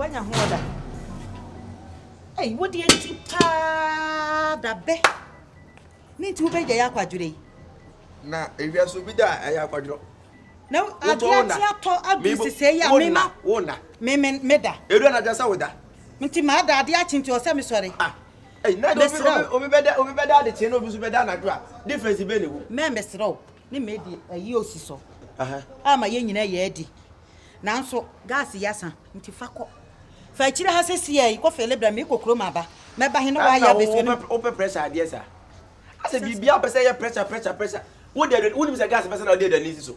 woanya ho ɔda ei wodeɛ nti paa dabɛ ne nti wobɛgya yɛ akwadwerɛ yi na ewia so bi da a ɛyɛ akwadwerɛ na adeɛ ate atɔ adu sesɛɛ yi a mema meda ɛdura na adwa sɛ woda nti maada adeɛ akye nti ɔsɛ mesɔre ah Ei na de obi Mesrɛ obi wo. obi bɛda obi bɛda adekyee na obi nso bɛda anadwo a difference bɛn na ɛwɔ mu? Mɛ mesrɛ wo ne mɛ di ayi osi so Aha. a ma yɛn nyinaa yɛ adi. Nanso gas yi asa nti fa kɔ. Fa akyire ha sesia yi kɔ fele brɛ me mekɔ kurom aba. Mɛba he ne Ɛna wayɛ abɛsua ne wopɛ wopɛ pressure adeɛ saa? Asɛ biribiara pɛ sɛ ɛyɛ pressure pressure pressure. Wode aduane wonim sɛ gas pɛ sɛ na wode aduane si so.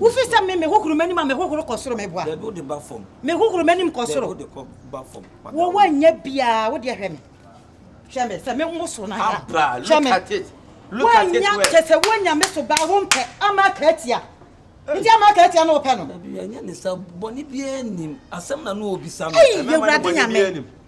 Wofi sɛ me mehohoro m'anim a mehohoro kɔ soro meboa. Dabi wode ba fam. Mehohoro m'anim kɔ soro. Dabi wode kɔ ba fam. Wo wanya biara wode hwɛ me. Hwɛ me sɛ me mo so na ya. Abra look at it. Look at it well. Wanya kyɛ sɛ wanya me so baa wompɛ ama aka atia. Nti ama aka atia no wopɛ no. Dabi ɛnyɛ ne sa bɔne biara nim. Asɛm na no obisa no. Ɛyɛ wura de nyame.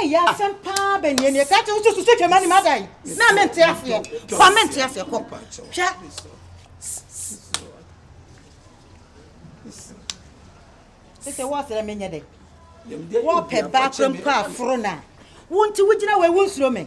ɛyɛ asɛm paa bɛ neɛ neɛ kaa kyɛ woso susu twɛma ne mada yi na mente aseɛ fa mente aseɛ kɔ hwɛ sɛ wɔsrɛ menyɛ dɛ wɔpɛ baa kora mpo aforo no a wonti wogyina wei wonsuro me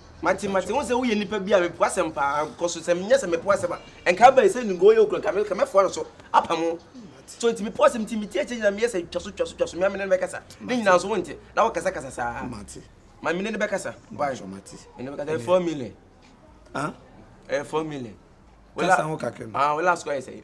Mate, mate, wohu sɛ woyɛ nipa bi a mepo asɛm paa, kɔ so, sɛ menyɛ sɛ mepo asɛm a, nka abɛyɛ sɛ nnugo yɛ okura, nka mɛfoa no so, apam wo. So nti mepo asɛm nti, metie akyɛ nyina meyɛ sɛ twa so, twa so, twa so, mea mene no bɛkasa, ne nyina nso wonte, na wokasa kasa saa. Mate. Ma mene no bɛkasa, why? Mate. Mene no bɛkasa, ɛyɛ four million. Ah? Ɛyɛ four million. Kasa ho kakra no. Ah, wo last kɔ ayɛ sɛ.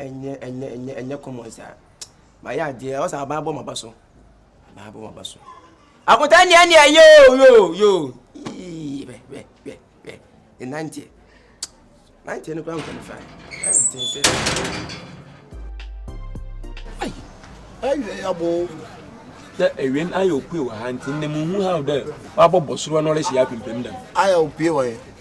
ɛnyɛ ɛnyɛ ɛnyɛ ɛnyɛ common saa mayɛ adeɛ ɔsɛ aban abɔ maba so aban abɔ maba so akotaa nea nea yoo yoo yoo yii bɛ bɛ bɛ bɛ ne nanteɛ nanteɛ no kora nkɔne fa ɛnte sɛ ayi ɛyɛ abo sɛ ɛwɛn ayɛ opue wɔ ha nti ne mu hu ha dɛ wabɔ bɔsoro no ɔrehyɛ apempem dɛm ayɛ opue wɔ yɛ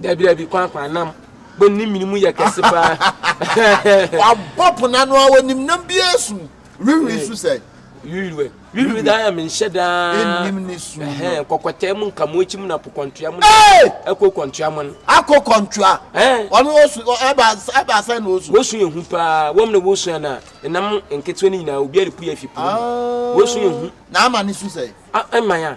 Dabi dabi kwan kwan nam bɔ nim mini mu yɛ kɛse paa. Wabɔ pona no a wɔnim nam bi esu wiriwiri su sɛ. Wiriwiri wiriwiri daa yɛ menhyɛ daa. Enim ne su. Kɔkɔtɛɛ mu nka mu ekyi mu na po kɔntua mu. Ɛkɔ kɔntua mu. Akɔ kɔntua. Wɔn osu ɛba ɛba sɛ na osu. Wosu yɛ hu paa wɔn na wosu yɛ na nam nketewa ne nyinaa obi a de pu yɛ fi po. Wosu yɛ hu. Na ama ne su sɛ. Ɛma ya.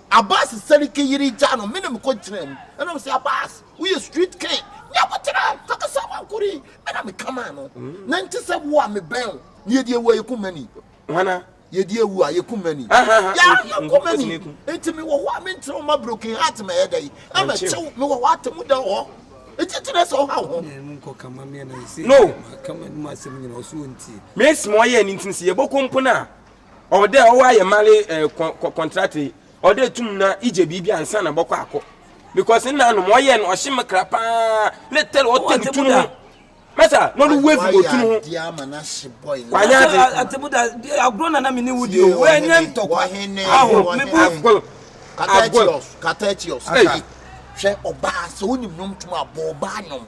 Abass Seriki yere gyaa no menem kɔgyinaa mu na ɔse, Abass, woyɛ street king, ne abɔtera, kakasa wankoro yi, me na meka maa no. Nante sɛ wo a mebɛn wo, na yɛdi awu a yɛku mani. Hwana? Yɛdi awu a yɛku mani. Yɛa yɛku mani. Nti mewɔ hɔ a menkyerɛ wo ma broken heart mɛyɛ dɛn ama kyew, mewɔ hɔ atemu da wɔ hɔ, nti nti na ɛsɛ ɔha wo ho. No! Mesi ma ɔyɛɛ no nti no sɛ yɛbɔkɔ mpo no a, Ɔdɛ ɔwɔ ayɛ male eh, kɔ, kɔ kɔntrate. Ɔdɛ tum na igye biribi ansa na bɔkɔ akɔ. Because nna anom ɔyɛ no ɔhye me kra paa. Ne tɛl ɔtɛ no tunu ho. Masa na ɔno wave wɔ tunu ho. Kwanya ade. Atemuda agorɔ na na me ne wo di o. Wo ɛnyɛ ntɔkwa. Aho me bu. Agol. Agol. Katatios. Masa. Hwɛ ɔbaa sɛ wonim nom tum abɔ ɔbaa nom.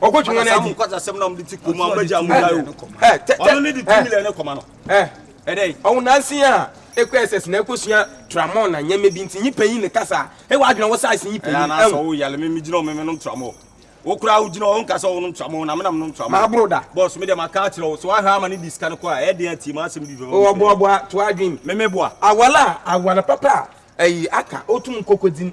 Ɔkɔ twɛn na adi. Ɔkɔ asɛm na ɔmo de ti kurom a ɔmo agya ɔmo gya o. Ɔno ne de two million ne kɔma no. Ɛdɛ. Ɔwɔ nansi a ekɔ SS na ekɔ sua tramol na nyɛma bi nti nyi panyin ne kasa. Ewa adwene ɔwɔ size nyi panyin. Ɛna sɛ ɔwɔ yale mi mi gyina ɔmo mi nom tramol. Wo kura awo gyina ɔwɔ nkasa ɔwɔ nom tramol na mi na mi nom tramol. Maa boro da. Boss mi de ma ka akyerɛ o sɛ wa hɛ ama ne di sika ne kɔ a ɛdi ati ma asɛm bi fɛ. Ɔwɔ boa boa to adwene. Mi mi boa. Awala awana papa a ɛyi aka otum nkoko dzi.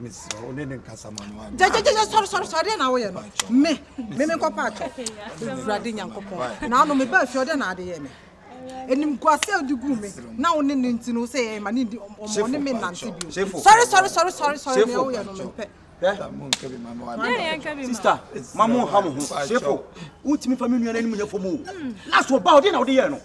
mesrɛ wo ne ne nkasa ma no gyagyagyagya sɔre sɔre sɔre deɛ na woyɛ no me me me nkɔpa atɔ awurade nyankopɔn na ano mebaa fie ɔdɛ na ade yɛ me ɛnim guase a wode gu me na wo ne no nti no sɛ ɛma ne ndi ɔmɔ ne me nante bio sɔre sɔre sɔre sɔre sɔre deɛ woyɛ no mempɛ sista ma mo ha mo ho sefo wotumi fa me nua no anim nyɛ fam o na so ɔba ɔde na wode yɛ no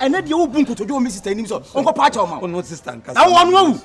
ɛnɛ deɛ wobu nkotodwe wɔ me sista anim sɛ ɔnkɔpa akyɛw ma wo na wɔno awu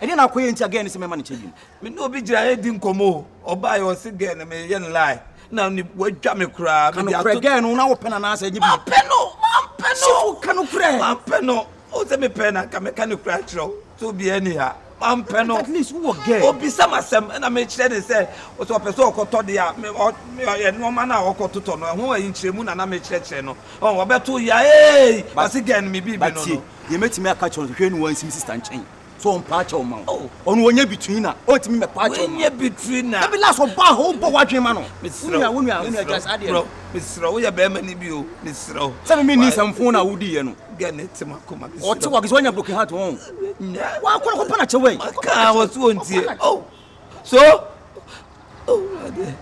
ɛne na akɔyɛ nti a gɛɛ ne sɛ mɛma ne kyɛ biom me ne obi gyina ɛdi nkɔmmɔ o ɔbaeɛ ɔse gɛɛ no meyɛ no lae na wadwa me koraa kanokorɛ gɛɛ no na wopɛ no anaasɛ ɛnyɛ bipɛ no mampɛ no sifo kanokorɛ mampɛ no o sɛ mepɛ na nka mɛka ne koraa kyerɛ wo So obi ani a ɔmpɛ no? Obisa me asɛm na mekyerɛ no sɛ sɛ ɔpɛ sɛ ɔkɔtɔ deɛ a, nnoɔma no a ɔkɔtotɔ no, ɛho nkyerɛmu na na mekyerɛkyerɛ no. Ɔbɛto yea, Eei! Ɔse Gɛn me bibi no no. Deɛ mɛtumi aka akyerɛ no, hwehwɛ ne wansi me sista nkyɛn sɛ ɔmpa akyɛw ma wo. Ɔno ɔnyɛ between a, ɔntumi mmɛpa akyɛw ma wo. Da bi last ɔbaa hɔ, wobɔ w'adwene ma no. Wo nua Gya saa adeɛ no. Mesrɛ wo, woyɛ bɛrima no bi o, mesrɛ wo. Sɛ me menni nsɛmfoo no a wodiiɛ no. Ɔte wɔ akisɛ wanya broken heart wɔn. Wakɔ akɔ pana kyɛ wɛn. Kaa wɔ so ontie. Oh. So. Oh ade.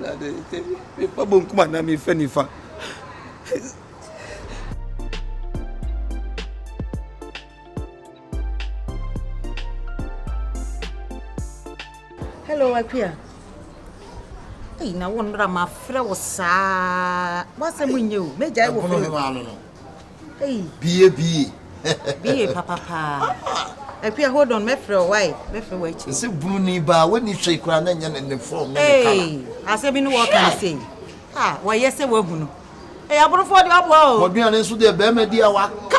Ade te me fa bonkum ana me fa nifa. Hello, Akua. Ei, na wo nnora ma frɛ wo saa. W'asɛm nyɛ o. M'agya yi wɔ fɛ. Ɛbono ma no no. Ei. Bie bie. Bie papa paa. Akua hold on, mɛfrɛ wo wai, mɛfrɛ wo akyi. Sɛ bunu ni ba, w'ani hwɛ kura na nyɛ ne ne fɔm ne ne kala. Ei, asɛm bi ne wɔka ne sei. Ah, wɔyɛ sɛ wahu no. Ɛyɛ aborofoɔ deɛ waboa o. Bɔdwen ane nso deɛ bɛɛma di a waka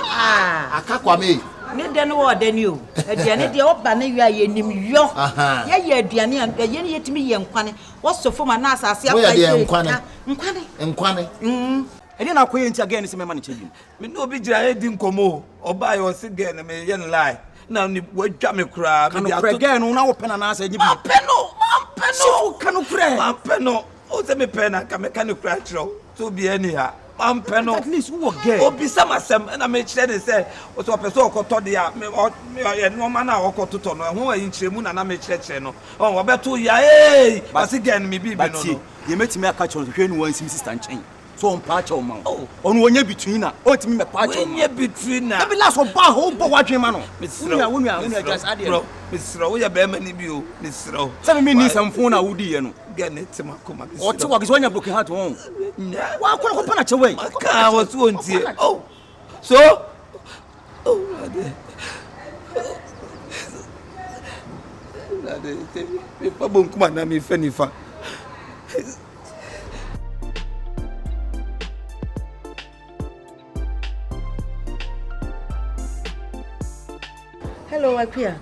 aka kwame ei. Ne dɛ no wɔ ɔdɛ ni o. Aduane deɛ ɔba ne yɔ a yɛnim yɔ. Yɛyɛ aduane a ɛyɛ ne yɛtumi yɛ nkwane. Wɔsɔ fam anaa asase apae sɛ yɛka. Moyɛ deɛ nkwane. Nkwane. Nkwane. Ɛdeɛ na akɔyɛ nti a girl no se mɛma no kyɛ biom. Me ne obi gyina redi nkɔmmɔ o, ɔbaeɛ ɔse girl no meyɛ no lie na ɔnim wadwa me koraa. Ka nokorɛ girl no na wopɛ no anaasɛ ɛnyɛ bi. Mampɛ no! Mampɛ no! Sifo ka nokorɛ. Mampɛ no! Oh sɛ me pɛ na nka mɛka no kura kyerɛ wo sɛ obiara ni ha ɔmpɛ no obisa m asɛm ɛna mekyerɛ ne sɛ sɛ ɔpɛ sɛ ɔkɔtɔ deɛ a nnoɔma no a ɔkɔtotɔ no ɛho ayi nkyerɛmu na na mekyerɛkyerɛ no ɔbɛto yaei ɔse gɛn me biribi no no deɛ mɛtumi aka kyerɛ no hwɛ ne wansi me sista nkyɛn So ɔmpaa kyɛw ma wo? Ɔno ɔnyɛ bitui na ɔntumi mmɛpaa kyɛw ma wo. Wonyɛ bitui na. Dabi last ɔbaa hɔ wobɔ w'adwene ma no. Mesrɛ wo. Wo nua wo nua gya saa deɛ no. Mesrɛ wo woyɛ bɛrima ni bi o. Mesrɛ wo. Sɛ me menni nsɛmfo na wodiiɛ no. Gɛ ne te makoma mesrɛ wo. Ɔte wɔ akyi sɛ wanya broken heart wɔn. Nyɛ. Wakɔ akɔpa no akyɛw ei. Makaa wɔ so ɔntie. So Awurade Awurade sɛ mefa bonkum anaa mefa nifa. Hello, Akuya.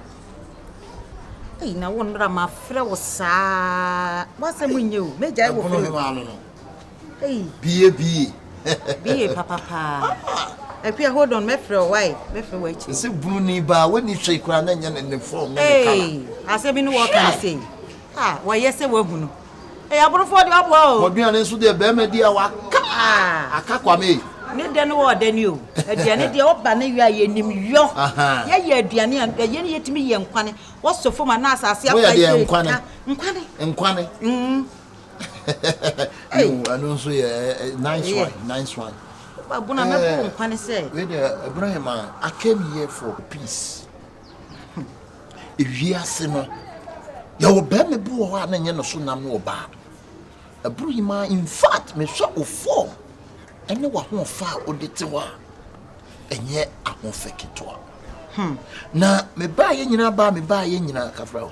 Hey, na wɔn nra ma frɛ wo saa. Wasɛm nyɛ o. Mɛgya wɔ fɛ. Ei. Bie bie. bie papa paa. Ah. Akua hold on mɛfrɛ o why mɛfrɛ wɔ akyi. Ɛsɛ bunu ni baa wani hwɛ kura na nyɛ ne ne fɔm ne ne kala. Ei asɛ bi ne wɔ kan sei. Ah wɔyɛ sɛ wahu no. Ei aborofo de waboa o. Wɔduane nso deɛ bɛrima di a waka ah. aka kwame. Ne dɛ ne wɔ dɛ ni o. Aduane deɛ ɔba ne yɔ a yɛnim yɔ. Yɛyɛ aduane a ɛyɛ ne yɛtumi yɛ nkwane. Wɔsɔ fam anaa asase apa yɛ nkwane. Nkwane. Nkwane. Mm. Ei. Yo, ɛno nso yɛ eh, nice Ɛyɛ. one, nice one. Ba Bona mɛbɔ wo Eh, nkwa ne sɛ. wei deɛ ɛbura yɛ ma I came here for peace. Ewiase no, yɛwɔ bɛrima bi wɔ hɔ a na nyɛ ne so nam ne ɔbaa. Ɛburu yi ma in fact mehwɛ wo form ɛne w'ahoɔfɛ a wode te hɔ a, ɛnyɛ ahoɔfɛ ketewa. Na mebaayɛ nyinaa baa mebaayɛ nyinaa kafra o.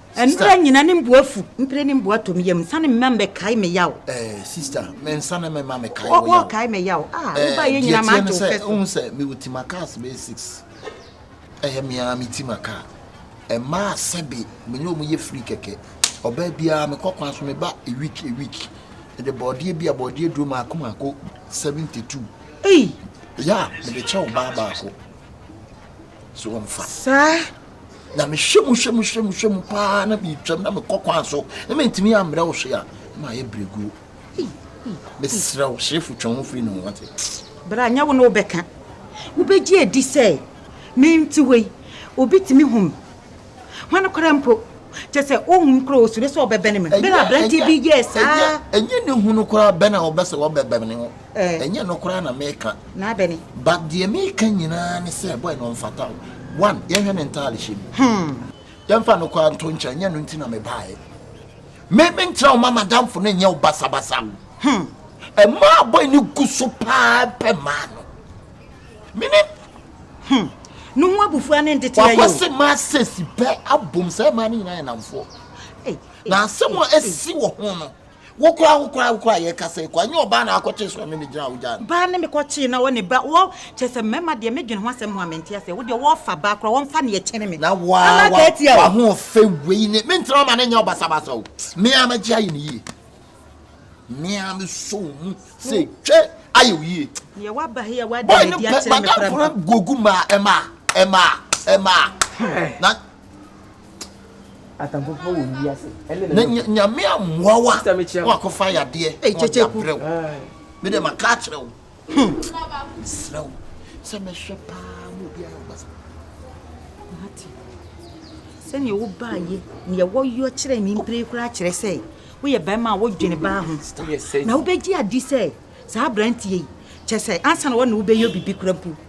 Mprɛ nyina ne mboa fu. Mprɛ ne mboa tɔ me yamu. Nsane mma mmɛkae me yaw. Eh, sista, me nsane mma mmɛkae wo yaw. Wo, wɔɔkae me yaw. Ah, wo ba yɛ nyina m'agye wo pɛ so. Wohu sɛ me wɔ ti ma kaa sɛ bɛyɛ six. Ɛyɛ me ara me ti ma kaa. Mmaa sɛbe me ne wɔn yɛ free kɛkɛ. Ɔbaa biara me kɔ kwan so me ba a week a week. Me de bɔɔdeɛ bi a bɔɔdeɛ duro maako maako seventy two. Ei! Yeah, me de kyɛ ɔbaa baako. sɛ wɔmfa. Saa na mehwɛ mu hwɛ mu hwɛ mu hwɛ mu paa na metwam na mekɔ kwan so na mentumi ammrɛ wo hwe a na mayɛ berɛguo mesrɛ wo hyefo twɛn ho firi ne ho wate berɛ a nyɛ wo na wobɛka wobɛgye adi sɛ mente hɔ yi obi tumi hom Hwan koraa mpo? Kyerɛ sɛ, ohu no koraa a, osuro sɛ ɔbɛbɛn me. Bere a aberante bi yɛɛ saa. Ɛnyɛ ne hu no koraa bɛn a ɔbɛ sɛ ɔbɛbɛn no. Ɛnyɛ ɛno koraa na meka. Na abɛn he? But deɛ meka nyinaa ne sɛ, boy no ɔmfata wo. One, yɛnhwɛ ne ntaadehyɛ mu. Hmm. Yɛmfa ɛno koraa nto nkyɛn, ɛnyɛ ɛno nti na mebaeɛ. Me, mentra wo ma m'adamfo no nyɛ wo basabasa. Hmm. Ɛmaa boy no gu so paa pɛ maa no. Meaning. Hmm. No ho abufuo ano ntete ayɛ o. Wakɔ se ma sesi pɛ abom sɛ ɛmaa ne nyinaa yɛ namfoɔ. Na asɛm a ɛsi wɔ ho no wokora wokora wokora yɛ kasa ekɔ anyɛ ɔbaa na akɔkye so ne ne gyina wo gya no. Baa ne me kɔkye na wɔ ne ba wɔ kyɛ sɛ mmarima deɛ me dwene ho asɛm ho a mente aseɛ wo deɛ wɔfa baa kora wɔmfa ne ɛkyɛne me. Na wa wa wa ho fɛ wei ne me ntena ma ne nyɛ ɔbasabasa o me a mɛgye ayɛ ne yie. mmea mi sɔ wo mu sɛ twɛ ayɛ wo yie. Yɛ waba ha yɛ wada yɛ di akyerɛ me kora mpa. Gogu ma ɛma ɛma ɛma na. Atamfofo wɔ wi ase ɛne na. Na nyame amoa wa wakɔfa yadeɛ na ɔde abrɛ wo. Me dɛ ma ka akyerɛ wo Hmm. Mesrɛ wo sɛ mɛhwɛ paa ma obiara yɛ ɔbasa. Mate. Sɛnea wobaayɛ nea wɔyɔ kyerɛ me mpire koraa kyerɛ sɛ woyɛ barima a wodwene baa ho. Na wobɛgye adi sɛ saa aberanteɛ yi kyɛ sɛ ansa na wɔne wobɛyɛ biribi kora mpo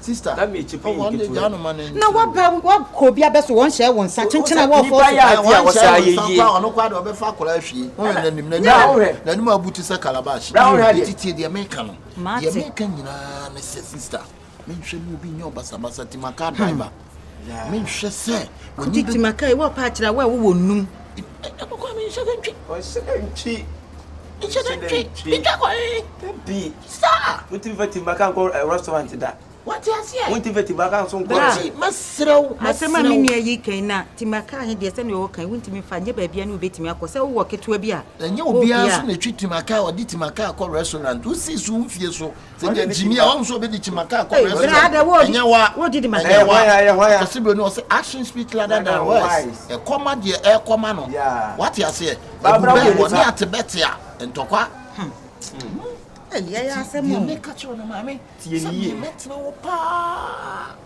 Sister, ɔwɔ wɔn de gyaa no ma ne Na nkyerɛ bi. wabɛ wakɔ obi abɛ so wɔn hyɛ wɔn nsa kyenkyen a wɔɔfɔ Nipa so. yɛ Ɛ, adeɛ a wɔn wɔsɛ hyɛ wɔn ayɛ nsa yie. mpo a ɔno koraa deɛ ɔbɛfa akwadaa ahwie. Wo hwɛ n'anim n'anim Bra wo hwɛ. n'anim abu te sɛ calabash. Bra wo hwɛ adeɛ. Eti tie deɛ meka no. Deɛ Mate. meka nyinaa ne sɛ sister, menhwɛ mu obi nyɛ ɔbasabasa ti maka driver. menhwɛ sɛ w'ani bɛ. maka yi wɔpa akyerɛ a wo a wowɔ nnum. ɛkɔkɔ mi nhyɛ dɛ ntwi. ɔhyɛ dɛ ntwi. nhyɛ dɛ ntwi ntwa kɔ ee. dabi saa. wotumi fa timaka nkɔ eh, restaurant da. wate aseɛ. wotumi fa timaka nso nkɔ. bra mɛsrɛ wo asɛm a me nua yi kan na timaka he deɛ sɛnea ɔwɔ kan wontumi fa nyɛ baabia ne wobɛtumi akɔ sɛ wowɔ ketewa bi a ɛnyɛ obiara nso na ɛtwi timaka ɔde timaka akɔ restaurant wosii so wo mfie so sɛ deɛ gyimi a wɔn nso ɔbɛdi kyima kaa kɔ na ɛsɛ ɛnyɛ wa ɛnyɛ wa ɔsi bɛni ɔsi action speak louder than words ɛkɔma deɛ ɛkɔma no wate aseɛ ɛbu bɛɛ wɔ ne ate bɛte a ntɔkwa. ɛyɛ asɛm o deɛ meka kyerɛ no maame sɛ deɛ mɛtena wɔ paa.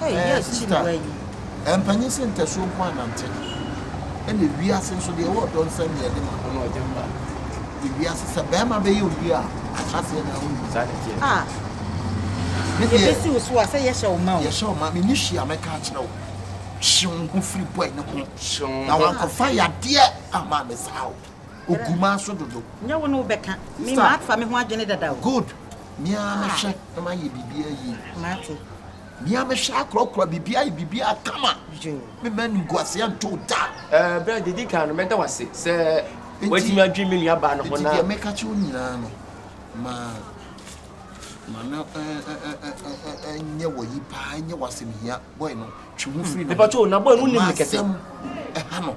Hey yɛ akyi na wayi. Ɛmpanyin sɛ ntasuo nko anante ɛna wiase nso deɛ ɛwɔ ɔdɔ nsɛm deɛ ɛde ma ho na ɔde mma deɛ wiase sɛ bɛrima bɛyɛ obi a ahyɛseɛ na ahu saa ne deɛ ah ne deɛ yɛbɛsi wo so a sɛ yɛhyɛ wo ma o yɛhyɛ wo ma me ni hwee a mɛka akyerɛ wo hyew ho firi bɔe ne ho na wankɔfa yadeɛ ama me saa o ogu ma so dodo. Nyɛ wo ne wo bɛka. Me ma afa me ho adwene dada o. Good. Me ara me hwɛ na ma yɛ bibia yie. Mate. Me ara me hwɛ akorɔkorɔ bibia ayɛ bibia kama. Joe. Me mma animguaseɛ nto wo da. Ɛɛ berɛ a didi kan no mɛda wo ase sɛ watumi adwene me nua baa no ho na. Nti deɛ meka kyerɛ wo nyinaa no ma ma no ɛnyɛ wɔ yi paa ɛnyɛ wɔ asɛm hia boy no twe ho firi no ho. Me pa kyɛw na boy no nim me kɛse. Ma asɛm ɛha no.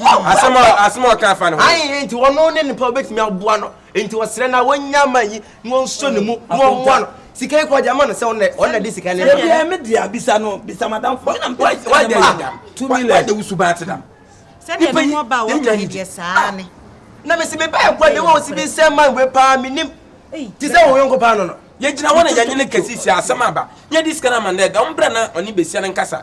Asɛm a asɛm a ɔka afa ne ho. Ayi enti ɔno ne nipa obetumi aboa no enti ɔsrɛ na wɔnya ama yi na ɔnso ne mu na ɔmmoa no sika yi kɔ ɔde ama no sɛ ɔna ɔna de sika ne deɛ me deɛ abisa no bisa madam fo na mpa sika ne ma dam two million wade wusu baa te dam sɛdeɛ ne ho ɔba a wɔka ne deɛ saa ne na mesi me bɛɛ kɔ ne wɔ si bi sɛ man wei paa menim te sɛ wɔn yɔnko paa no no yɛgyina hɔ na yɛnye ne kɛse hyɛ asɛm aba yɛde sika no ama no dɛ dɔm berɛ na ɔne bɛsia no nkasa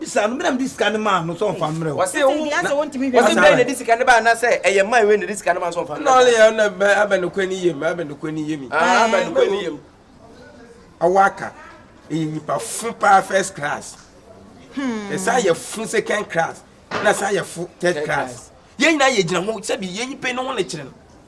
Bisa no, me na mede sika no maa no sɛ ɔmfa mmrɛ wo. Ɔse wo, na ɔse dɛn na ɛde sika no bae anaasɛ ɛyɛ man wei na ɛde sika no maa sɛ ɔmfa mmrɛ no. Ɛna ɔle yɛ na bɛ abɛ no kɔni yɛ mi, abɛ no kɔni yɛ mi. Ahaa abɛ no kɔni yɛ mi. Awɔ aka, ɛyɛ nipa fo paa first class, ɛsan yɛ fo second class, ɛna ɛsan yɛ fo third class. Yɛn nyinaa yɛ gyina ho sɛbi yɛn pɛ no ho na ɛkyerɛ no.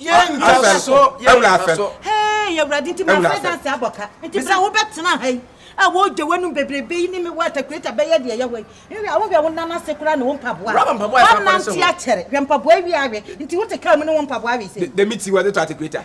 yɛntwa so yɛntwa so hee yɛwurade nti mafɛ danse abɔ ka nti berɛ wobɛtena ha yi a wɔgya w'anum bebrebe yi ne me wata kureta bɛyɛ deɛ yɛwɔ yi nhwɛ a wohwɛ wo nan ase koraa ne wo mpaboa anante akyɛre hwɛ mpaboa wie awɛ nti wote kaa mu ne wo mpaboa awe sɛ dɛmi ti wɔde tɔ ate kureta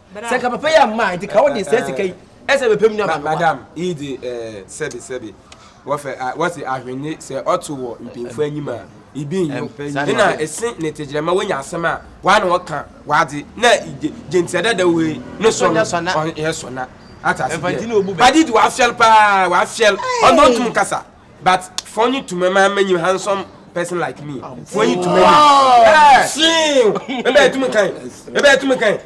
sɛ nka papa yi amma a nti ka wode saa sika yi ɛsɛ bɛpɛ mu nuaba no madam yi de eh, sɛbi sɛbi wɔfɛ ah, wɔsi ahwenne sɛ ɔto wɔ mpanyinfoɔ anim a ibi nyo ɛna ɛsi ne tegyerɛma wɔnya asɛm a wɔa na wɔka wɔade na gyintia dada wei ne sɔ no ɔyɛ sɔna atase deɛ padi de wɔafiɛl paa wɔafiɛl ɔno ntum kasa But funny to me man many handsome person like me. Funny to me. Eh, see. Ebe to me kan. Ebe to me kan.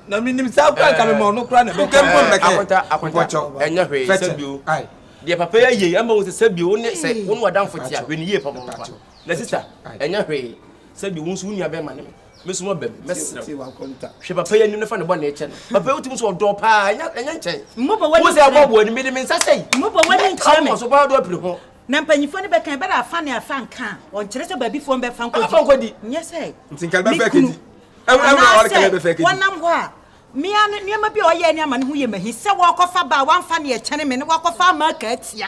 Na mi nim sa kura ka me ma no kura na be. Kan pon be kan. Akwata akwata. Enya hwe se bio. Ai. Dia papa ya ye, amba wo se bio, wo ne se, wo no adamfo tia, hwe ne ye papa papa. Na sister, enya hwe se bio, wo nso wo nua be ma ne me. Me nso mabam, mɛsrɛ wo. Hwɛ papa yi anim na fa ne bɔne kyɛ no. Papa yi wotim sɛ ɔdɔ paa, ɛnyɛ nkyɛn. Mmobɔ w'ani nkyerɛ me. Wo sɛ ɛbɔ w'ani, mede me nsa sɛi. Mmobɔ w'ani nkyerɛ me. Ka so paa dɔ apiri ho. Na mpanyimfoɔ no bɛka, ɛbɛrɛ afa ne afa nka a, ɔnkyerɛ sɛ baabifoɔ no bɛfa nkɔdi. Bɛfa nkɔdi. Nyɛ sɛ me kunu. Anaasɛ wɔnam hɔ a, me ara ne nneɛma bi a ɔyɛɛ ne amane ho yɛ me ahi sɛ wɔrekɔfa baa wamfa ne ɛkyɛne me ne wakɔfa ama aka atia.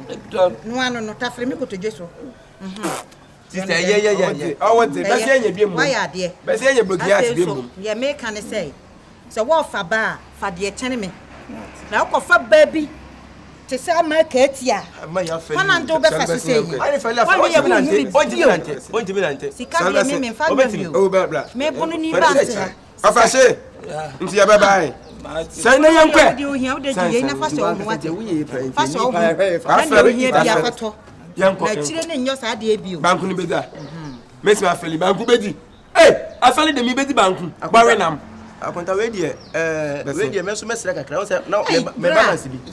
dɔ no ano no tafere me kotodwe so. Sista ɛyɛ yɛ yɛ yɛ ɔwɔ dze bɛsɛ yɛ nyɛ bi mu wayɛ adeɛ bɛsɛ yɛ nyɛ blogi ase bi mu. Deɛ meka ne sɛ sɛ wɔrefa ba a fa deɛ kyɛne me na wokɔfa ba bi te sɛ ama kaati a fa nante wobɛfa so sɛ yi ɔne yɛ wohu me bio sika deɛ me memfa nwam bio mebono ni ba nte ha Papa se, nti yɛbɛba he? Sɛ na yɛnkɔ ɛ. Banku no bɛdi a. Mesi afɛli banku bɛdi. Ee, afɛli de mi bɛdi banku. Bɔwe nam. Akonta wei deɛ, ɛɛ, wei deɛ mɛso mɛsrɛ kakra, wo sɛ, na mɛ balance bi.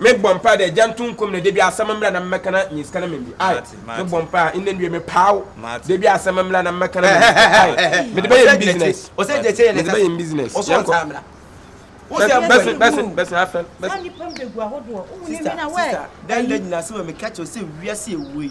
Me bɔ mpae dɛ gya nto nkɔm na da bi asɛm mbra na mɛka na nye sika na mɛn bi ai me bɔ mpae a ndɛ nduɛ me paa wo da bi asɛm mbra na mɛka na mɛn bi sika ai me de bɛ yɛ business me de bɛ yɛ business yɛn kɔ bɛsɛn bɛsɛn bɛsɛn afɛn bɛsɛn. Saa nipa mbegu ahodoɔ, wohu ne bi na wɛɛ. Sister, dɛn na gyina so ma meka kyerɛ wo sɛ wiase a ɛwɔ yi,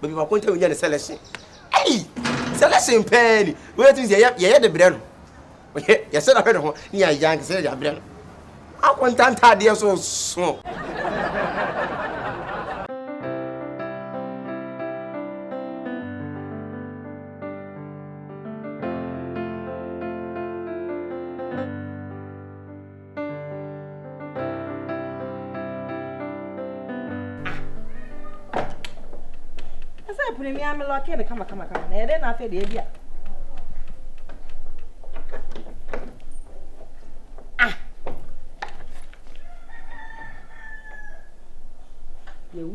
baabi baako ntam nya ne selection ɛyi selection pɛɛ ni wɔyɛ tumi sɛ yɛyɛ yɛyɛ de brɛ no wɔyɛ yɛsɛ dahwɛ ne ho ne yɛ ayɛ ankasa yɛ de abrɛ no akɔ ntantaadeɛ so so. ɛsɛ ɛpono mi ame lɔke no kamakamakama na ɛdɛ na afei deɛ bi a ah yɛwu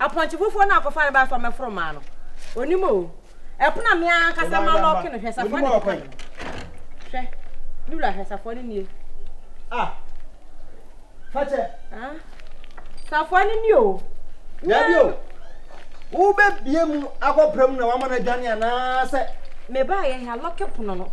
Apɔnkye fufuo no a ɔkɔfa no bae sɛ ɔmmɛforo mmaa no, ɔnim o. Ɛpono a me ara ankasa malɔɔke no, hwɛ safoa no kwan mu. Hwɛ, me wura, hwɛ safoa no nie. Ah, fakyɛ. Ah, safoa no nie o. Dabi o, wobɛbie mu akɔpra mu na wama no adwane anaasɛ? Mebaeɛ he, alɔke pono no.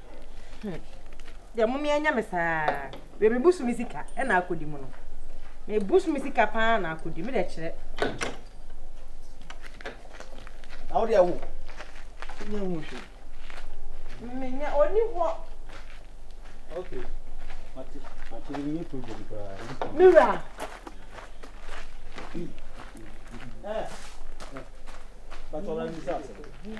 Deɛ mo mmea nya me saa. Wei me busu me sika ɛna akɔdi mu no. Me busu me sika paa na akɔdi me deɛ kyerɛ. Na wo deɛ wo. Nyɛ ho hwɛ. Me nya ɔni hɔ. Okay. Mate mate me nyɛ problem koraa. Me wura. Eh. Bàtà ọ̀la ní sáà sẹ́yìn.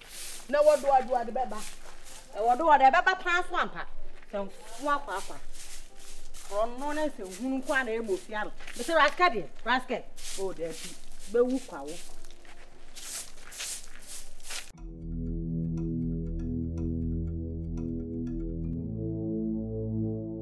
Na wɔde ɔde ɔde bɛba. Na wɔde ɔde bɛba paa so ampa. Sɛ nko akɔ akwa. Korɔno ne sɛ hunu nko a na ɛmu ofia no. Mesɛ raskɛ deɛ, raskɛ. O oh, daabi, bɛwu kwa wo.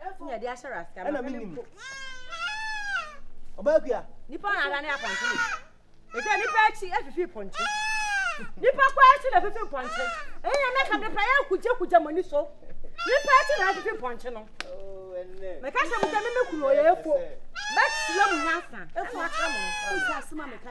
Ɛna de ahyɛ rasta. Ɛna mi nim. Ɔbaa kuya. Nipa na ada ne apɔnte ne. Ɛsɛ nipa akyi afifi pɔnte. Nipa kɔ akyi na afifi pɔnte. Ɛyɛ na mɛka mepɛ yɛ kugya kugya mo ani so. Nipa akyi na afifi pɔnte no. Mɛka sɛ mo sɛ me mɛkunu ɔyɛ efo. Mɛkyerɛ mo nyansa. Efo akyerɛ mo. Mo sɛ asoma mɛka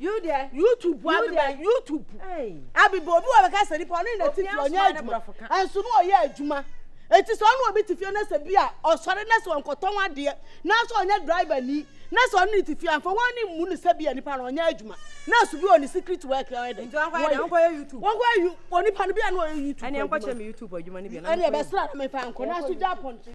YouTube bu abi bɛ YouTube bu abi bɛ obi wɔ bɛka sɛ nipa ɔne na ti fi ɔnyɛ adwuma ɛnso no ɔyɛ adwuma eti sɛ ɔne obi ti fi ɛna sɛ bi a ɔsɔre na sɛ ɔnkɔtɔn adeɛ nanso ɔnyɛ driver ni na sɛ ɔne ne ti fi anfa wɔn ne mu ne sɛ bi a nipa no ɔnyɛ adwuma nurse bi wɔ ne secret work ɔyɛ dɛ wɔnkɔyɛ YouTube wɔnkɔyɛ you wɔ nipa no bi a na ɔyɛ YouTube ɛne ɛnkɔkyɛ mi YouTube adwuma ne bi ɛne ɛbɛsra na mefa nkɔ na so gya pɔnkye